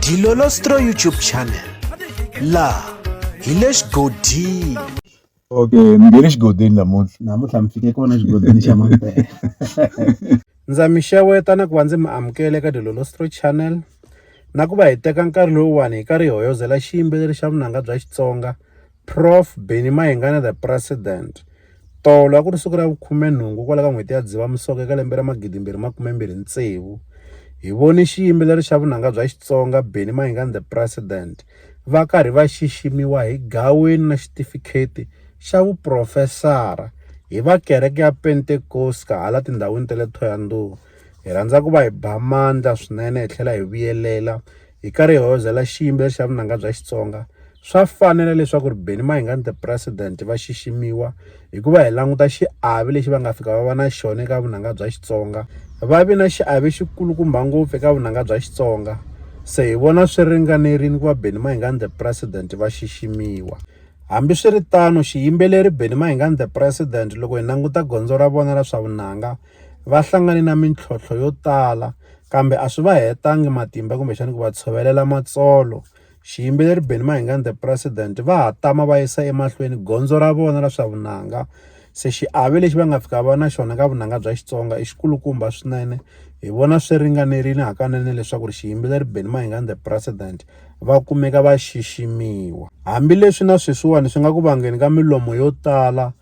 Dilolostro YouTube channel laha hi le xigodini okay mi nge le xigodini namuntlha namuntlha mi fike kona xigodini xa mampela ndza mi xeweta na ku va ndzi mi amukele ka dilolostro channel na ku va hi teka nkarhi lowuwani hi karhi hi hoyozela xiyimbeleri xa vunanga bya xitsonga Prof Benny Mayengani the President tolo a ku ri siku ra vukhumenhungu kwala ka n'hweti ya Dzivamisoko eka lembe ra magidimbirhi makumembirhi tsevu hi voni xiyimbeleri xa vunanga bya Xitsonga Benny Mayengani the President va karhi va xiximiwa hi gaweni na xitifikheti xa vuprofesara hi va kereke ya Pentecost hala tindhawini ta le Thohoyandou hi rhandza ku va hi ba mandla swinene hi tlhela hi vuyelela hi ka rihoza la xiyimbeleri xa vunanga bya Xitsonga swa fanela leswaku ri Benny Mayengani the president va xiximiwa hikuva hi languta xiave lexi va nga fika va va na xona eka vunanga bya Xitsonga va vi na xiave xikulukumba ngopfu eka vunanga bya Xitsonga se hi vona swi ringanerile ku va Benny Mayengani the president va xiximiwa hambiswiritano xiyimbeleri Benny Mayengani the president loko hi languta gondzo ra vona ra swa vunanga va hlangane na mintlhontlho yo tala kambe a swi va hetanga matimba kumbexana ku va tshovelela matsolo. Xiyimbeleri Benny Mayengani The President va ha tama va yisa emahlweni gondzo ra vona ra swa vunanga se xiave lexi va nga fika va na xona ka vunanga bya Xitsonga i xikulukumba swinene hi vona swi ringanerile hakanene leswaku ri xiyimbeleri Benny Mayengani The President va kumeka va xiximiwa hambileswi na sweswiwani swi nga ku vangeni ka milomo yo tala.